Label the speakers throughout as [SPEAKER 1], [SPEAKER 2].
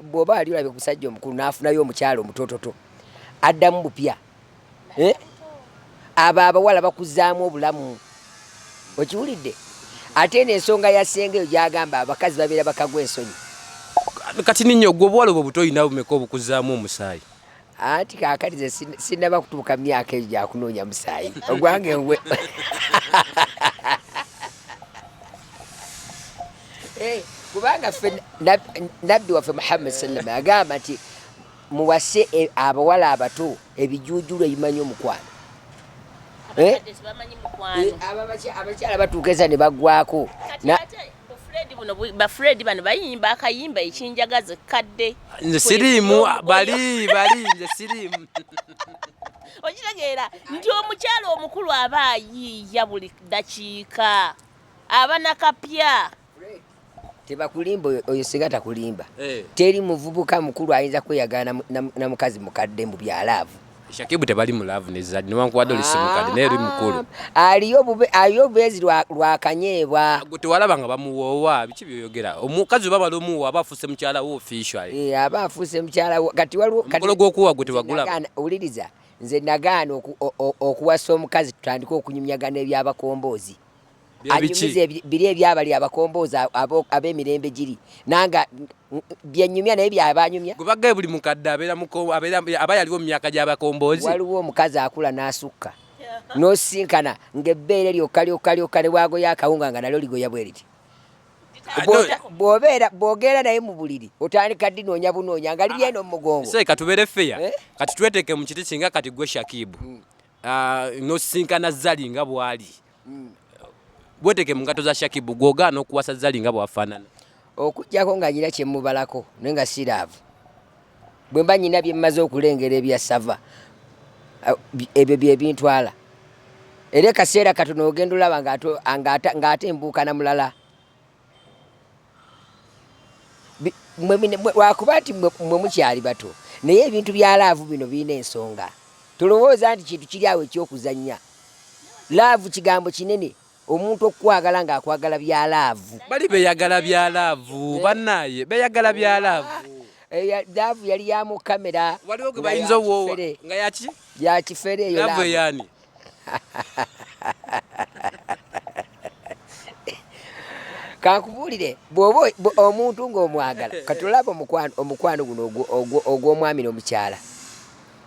[SPEAKER 1] bwoba wali olabye omusajja omukulu n'afunayo omukyalo omutototo addamu bupya eh? abo abawala bakuzaamu obulamu okiwulidde ate eno ensonga ya senga eyo gyagamba abakazi babeera bakagwa ensonyi kati
[SPEAKER 2] ninyo gwe obuwala obwo butolina bumeka obukuzaamu omusaayi anti
[SPEAKER 1] kaakati ze sinnaba kutuuka myaka egyo gyakunoonya musaayi ogwange ngwe eh, kubanga ffe nabbi waffe muhammad sallama agamba nti muwase e, abawala abato ebijuujulu ebimanyi omukwano eh? eh, abakyala batuuka eza ne bagwako Fred buno ba
[SPEAKER 3] Fred bano bayimba akayimba ekinjagaze kadde nze siriimu
[SPEAKER 2] bali bali nze siriimu okitegeera
[SPEAKER 3] nti omukyala omukulu aba ayiiya buli ddakiika aba nakapya
[SPEAKER 1] tebakulimba oyo singa takulimba eh. teri muvubuka mukulu ayinza kweyagala na mukazi mukadde mu byalaavu Shakibu tebali mu
[SPEAKER 2] love ne Zari newankubadde oli simukadde naye eri mukulu ah, aliyo bube aliyo
[SPEAKER 1] bezi lwa lwa kanyeebwa gwe tewalaba nga
[SPEAKER 2] bamuwoowa biki byoyogera omukazi oba bali omuwoowa aba afuuse mukyala wo officially ee eh, aba afuuse mukyala
[SPEAKER 1] wo kati waliwo omukolo gw'okuwoowa gwe tewagula
[SPEAKER 2] owuliriza
[SPEAKER 1] nze nagaana okuwasa omukazi tutandike okunyumyagana eby'abakomboozi anyumize biri ebyabali abakomboozi ab'emirembe giri nanga byenyumya naye byabanyumya gwebagaye buli mukadde
[SPEAKER 2] aba yaliwo mu myaka gy'abakomboozi waliwo omukazi akula
[SPEAKER 1] n'asukka n'osinkana ng'ebbeere lyokka lyokka lyokka ne bwagoya akawunga nga nalyo ligoya bwe liti bwobeera bwogera naye mu buliri otandika dinoonya bunoonya nga liri eno mu mugongo kati tubeere feya eh?
[SPEAKER 2] kati tweteke mu kiti kinga kati gwe shakibu hmm. Ah, nosisinkana zali nga bwali mm. bweteke mungato za shakibu gwogaana okuwasa zali nga bwafaanana okujjako nga
[SPEAKER 1] nyina kyemubalako naye nga siraavu bwemba nyina byemmaze okulengera ebyasava ah, ebyo byebintwala era ekaseera katono ogenda olaba ngaate embuukana mulala lwakuba nti mwe mukyali bato naye ebintu bya laavu bino birina ensonga tolowooza nti kintu kiri awo ekyokuzannya laavu kigambo kinene omuntu okukwagala ng'akwagala bya laavu bali beyagala bya
[SPEAKER 2] laavu eh? banaye beyagala bya laavu eh, laavu
[SPEAKER 1] yali ya mu kamera waliwo gwe bayinza owoowa
[SPEAKER 2] nga yaki yakifere eyo
[SPEAKER 1] laavu eyani kankubuulire bwoba omuntu ng'omwagala katulaba omukwano guno ogw'omwami n'omukyala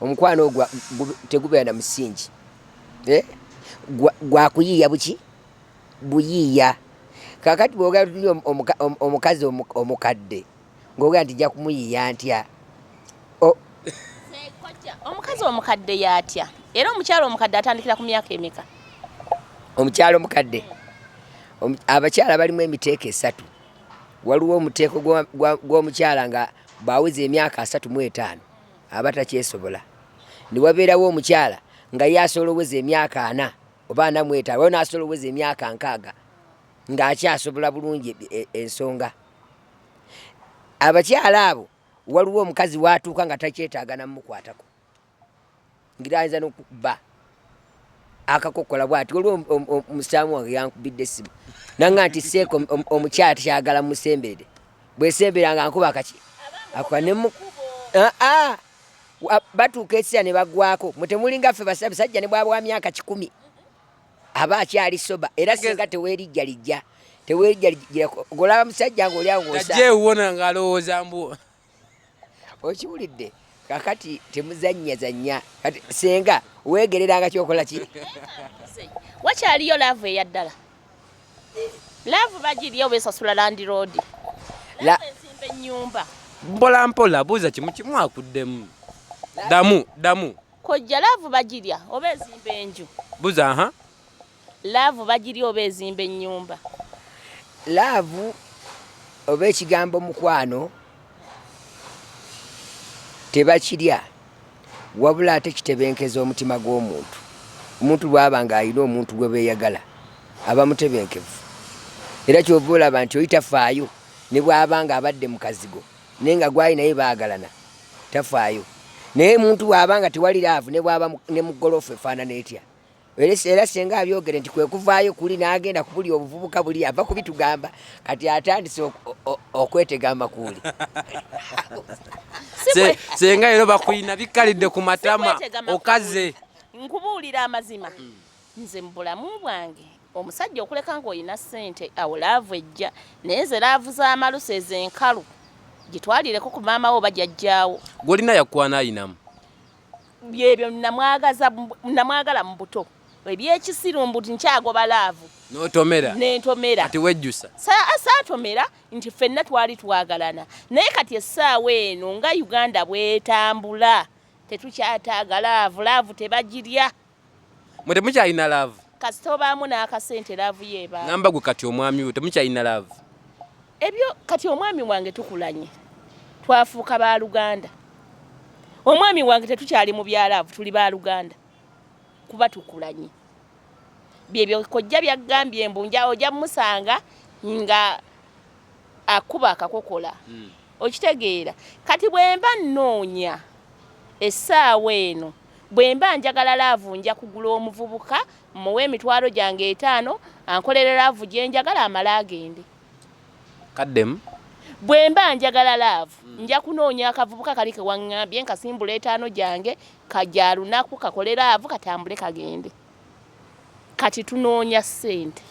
[SPEAKER 1] omukwano ogwa tegubeera na musingi eh? gwakuyiiya buki buyiiya kakati bwogera tuli omukazi omukadde ng'ogera nti ja kumuyiya ntya
[SPEAKER 3] omukazi omukadde yatya era omukyalo omukadde atandikira ku myaka emeka
[SPEAKER 1] omukyalo omukadde abakyala balimu emiteeko esatu waliwo omuteeko gw'omukyala nga bwaweza emyaka asatu mu etaano aba takyesobola newabeerawo omukyala nga ye asobola oweza emyaka ana oba ana mu etaano waliwo n'asobola oweza emyaka nkaaga ng'akyasobola bulungi e, e, ensonga abakyala abo waliwo omukazi watuuka nga takyetaaga namukwatako ngira ayinza nokuba akakokola bwati waliwo omusaamu wange yankubidde essimu nanga nti seeko omukyala takyagala musembeede bwesembera nga nkuba akaki akanemu ah, ah. batuuka esira ne bagwako mwe temulinga ffe basabisajja ne bwaba wa myaka kikumi aba akyali soba era singa tewerijja lijja tewerijja lijja golaba musajja ng'oli awo ng'osaewona ng'alowooza
[SPEAKER 2] mbu
[SPEAKER 1] okiwulidde kakati temuzannya zannya kati senga weegereranga kyokola ki
[SPEAKER 3] wakyaliyo laavu eya ddala laavu bagirya oba esasula landiroodi ensimba ennyumba mpola mpola
[SPEAKER 2] buuza kimu kimu akuddemu damu damu Kojja laavu
[SPEAKER 3] bagirya oba ezimba enju? Buza aha.
[SPEAKER 2] Laavu
[SPEAKER 3] bagirya oba ezimba ennyumba?
[SPEAKER 1] Laavu oba ekigambo mukwano tebakirya wabula ate kitebenkeza omutima gw'omuntu omuntu bwaba nga alina omuntu gwe beeyagala aba mutebenkevu era kyova olaba nti oli tafaayo ne bwaba nga abadde mukazigo naye nga gwali naye baagalana tafaayo naye muntu bw'aba nga tewali laavu ne bw'aba ne mu goloofa efaanana etya era senga abyogere nti kwe kuvaayo kuli n'agenda kubuli obuvubuka buli ava kubitugamba kati atandise okwetega amakuuli
[SPEAKER 2] senga ero bakulina bikkalidde ku matama okaze nkubuulira
[SPEAKER 3] amazima mm. Nze mubulamu bwange omusajja okuleka nga olina sente awo laavu ejja naye nze laavu z'amalusu ezo enkalu gitwalireko ku maama wo bajajjaawo gwolina yakwana
[SPEAKER 2] ayinamu byebyo
[SPEAKER 3] namwagala mu buto ebyekisiru mbu nkyagoba laavu notomera
[SPEAKER 2] nentomera kati
[SPEAKER 3] wejjusa
[SPEAKER 2] saatomera
[SPEAKER 3] nti ffenna twali twagalana naye kati essaawa eno nga uganda bwetambula tetukyataaga laavu laavu tebagirya mwe
[SPEAKER 2] temukyalina laavu kasita obaamu
[SPEAKER 3] n'akasente laavu yo ebaamu namba gwe kati omwami
[SPEAKER 2] we temukyalina laavu ebyo
[SPEAKER 3] kati omwami wange tukulanye twafuuka ba luganda omwami wange tetukyali mu bya laavu tuli ba luganda kuba tukulanye byebyo kojja byagambye mbu nja oja musanga nga akuba akakokola hmm. okitegeera kati bwemba nnoonya essaawa eno Bwemba njagala laavu nja kugula omuvubuka mmuwe emitwalo gyange etaano ankolere laavu gye njagala amale agende.
[SPEAKER 2] Kaddemu. Bwemba
[SPEAKER 3] njagala laavu hmm. nja kunoonya akavubuka kali ke wang'ambye nkasimbula etaano gyange kagya lunaku kakole laavu katambule kagende. Kati tunoonya ssente.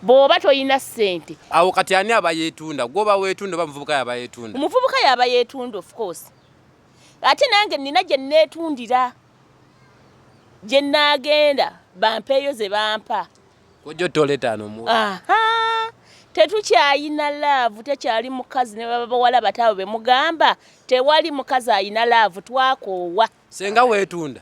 [SPEAKER 3] Bw'oba tolina ssente. Awo kati ani aba
[SPEAKER 2] yeetunda? Gw'oba weetunda oba muvubuka y'aba yeetunda? Omuvubuka y'aba yeetunda
[SPEAKER 3] of course. ate nange nina gye nneetundira gye nnaagenda bampeeyo ze bampa kojja ottoola
[SPEAKER 2] etaano mu tetukyayina
[SPEAKER 3] laavu tekyali mukazi ne baba bawala bataabo be mugamba tewali mukazi ayina laavu twakoowa senga weetunda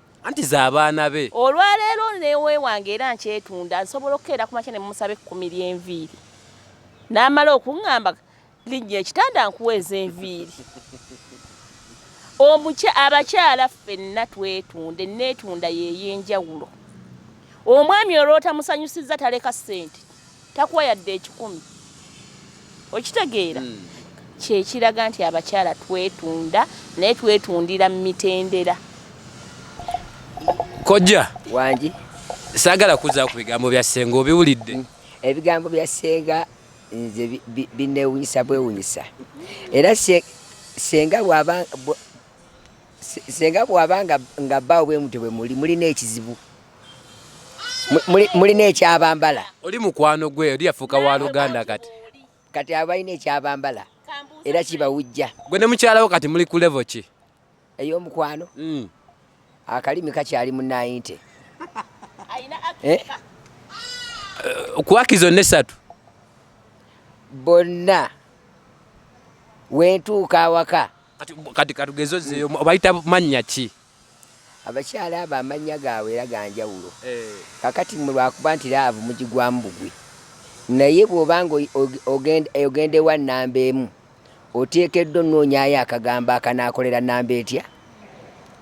[SPEAKER 3] anti z'abaana
[SPEAKER 2] be. Olwaleero
[SPEAKER 3] newewange era nkyetunda nsobola okukeera ku makya ne mumusaba ekkumi ly'enviiri n'amala okuŋŋamba linnya ekitanda nkuweeza enviiri omukya abakyala ffenna twetunde neetunda yeey'enjawulo omwami olw'otamusanyusizza taleka ssente takuwa yadde ekikumi okitegeera hmm. kyekiraga nti abakyala twetunda naye twetundira mu mitendera
[SPEAKER 2] kojja wangi
[SPEAKER 1] saagala
[SPEAKER 2] kuzaku bigambo bya ssenga obiwulidde hmm. ebigambo bya
[SPEAKER 1] ssenga nze binewunyisa bwewunyisa era ssenga bwaba ssenga bwaba nga baawo bwemutyo bwemuli mulina ekizibu mulina ekyabambala oli mukwano
[SPEAKER 2] gwe oli yafuuka wa luganda kati kati
[SPEAKER 1] abalina ekyabambala era kibawujja gwe ne mukyalawo kati
[SPEAKER 2] muli ku levo ki ey'omukwano
[SPEAKER 1] hmm. akalimi kakyali mu nayinte eh?
[SPEAKER 2] kuwakizo nesatu bonna
[SPEAKER 1] wentuuka awaka kati kati katugeze
[SPEAKER 2] ozeyo obayita mannya ki Abakyala
[SPEAKER 1] abo amannya gaabwe era ga njawulo. Kaakati mmwe lwa kuba nti laavu mugigwamu bugwi, naye bw'oba nga ogenda ewa nnamba emu, oteekeddwa onnoonyaayo akagambo akanaakolera nnamba etya?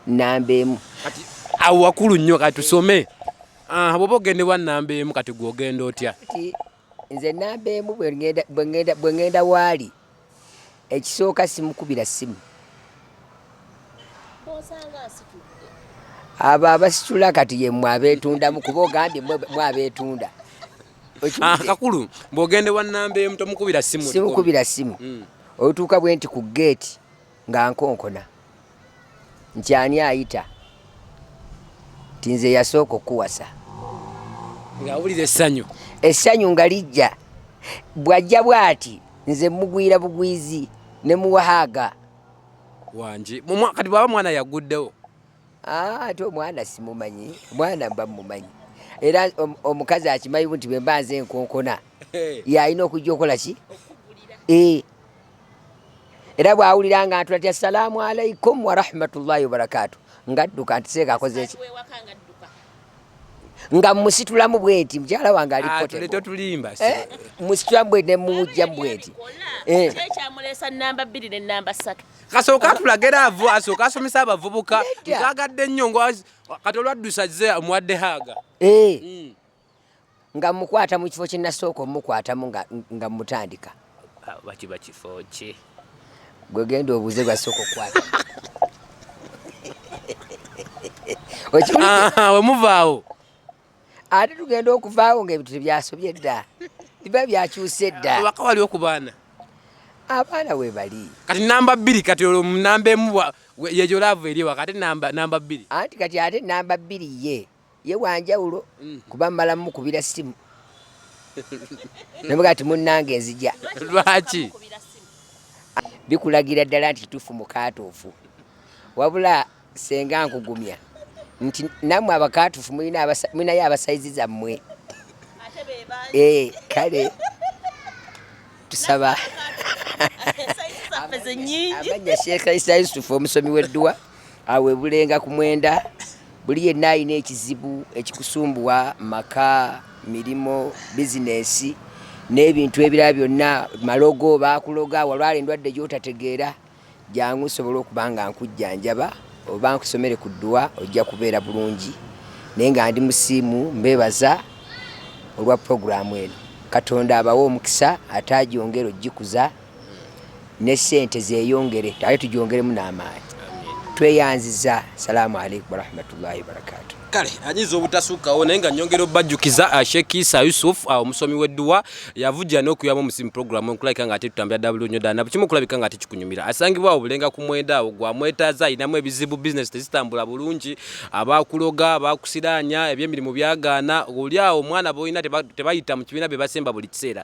[SPEAKER 1] Nnamba emu. Kati awo wakulu
[SPEAKER 2] nnyo, kati tusome. Aha, bw'oba ogenda ewa nnamba emu, kati gwe ogenda otya? nze
[SPEAKER 1] namba emu bwe ŋŋenda waali ekisooka simukubira ssimu abo abasitula kati yemwe abeetundamu kuba ogambye mwe abeetunda
[SPEAKER 2] ah, kakulu bw'ogende wa namba emu tomukubira ssimu simukubira ssimu
[SPEAKER 1] hmm. otuuka bwe nti ku geeti Nga nkonkona nti ani ayita nti nze yasooka okukuwasa.
[SPEAKER 2] Nga wulira essanyu.
[SPEAKER 1] Essanyu nga lijja bw'ajja bw'ati nze mugwira bugwizi ne muwahaaga. Wangi
[SPEAKER 2] kati bwaba mwana yaguddewo. Ah, ate
[SPEAKER 1] omwana simumanyi mwana mba mumanyi era omukazi akimanyi nti bwemba nze enkonkona yalina okujja okola ki eh. era bwawulira nga ntula ti assalaamu alaikum warahmatullahi wabarakaatu ngadduka nti seeka akoze eki nga musitulamu bweti mukyala wange alitotulimba
[SPEAKER 2] ah, eh, musitulamu
[SPEAKER 1] bweti nemumujja bweti eh.
[SPEAKER 3] kasooka atulaga era
[SPEAKER 2] avu asooka asomesa abavubuka twagadde nnyo kati olwaddusa ze omuwadde haaga eh. mm.
[SPEAKER 1] nga mukwata mu kifo kyenasooka omukwatamu nga mutandika ah, bakiba
[SPEAKER 2] kifo ki gwegenda
[SPEAKER 1] obuuze gwasooka
[SPEAKER 2] okukwata wemuvaawo
[SPEAKER 1] ate tugenda okuvaawo nga ebintu tebyasobye dda biba byakyuse dda waka wali okubaana
[SPEAKER 2] abaana
[SPEAKER 1] webali kati namba bbiri
[SPEAKER 2] kati olwo namba emu yejo laavu eri waka ate namba bbiri anti kati ate
[SPEAKER 1] namba bbiri ye ye wanjawulo mm. kuba mmala mumukubira ssimu nabuga ti munnange nzija lwaki
[SPEAKER 2] bikulagira
[SPEAKER 1] ddala nti kituufu mukaatuufu wabula senga nkugumya nti nammwe abakaatuufu mulinayo abasayizi zammwe eh, kale tusaba amanya sheekh isa yusufu omusomi w'edduwa awebulenga ku mwenda buli yenna alina ekizibu ekikusumbuwa maka mirimu bizinesi n'ebintu ebirala byonna malogo bakuloga walwala endwadde gyotategeera jangu nsobola okuba nga nkujjanjaba oba nkusomere ku dduwa ojja kubeera bulungi naye nga ndi musiimu mbebaza olwa puroguramu eno katonda abawe omukisa ate ajongere ojikuza ne sente zeyongere ate tujongeremu n'amaanyi tweyanziza salaamu aleikum warahmatullahi wabarakatu kale anyiza
[SPEAKER 2] obutasukkawo naye nga nyongera obajjukiza uh, sheikh isa yusuf uh, omusomi w'edduwa yavujja n'okuyamba omusimu programu nkulabika nga ate tutambira ddala bulunyo ddala nabukimu okulabika nga tekikunyumira asangibwa awo bulenga ku mwenda awo gwamwetaaza alinamu ebizibu bizinesi tezitambula bulungi abakuloga abakusiraanya ebyemirimu byagaana oli awo omwana boolina tebayita mu kibiina bye basemba buli kiseera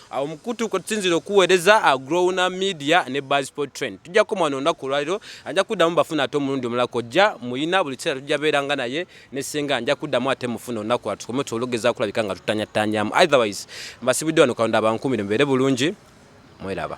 [SPEAKER 2] awo mukutu kwetusinzira okuweereza uh, growna media ne basport train tujja kukoma wano olunaku olwaliro ajja kuddamu bafuna ate omulundi omulala kojja muyina buli kiseera tujja beeranga naye ne senga nja kuddamu ate mufuna olunaku lwa tukome tuologeza kulabika nga tutanyatanyamu otherwise mbasibidde wano kalonda abankumire mubeere bulungi mweraba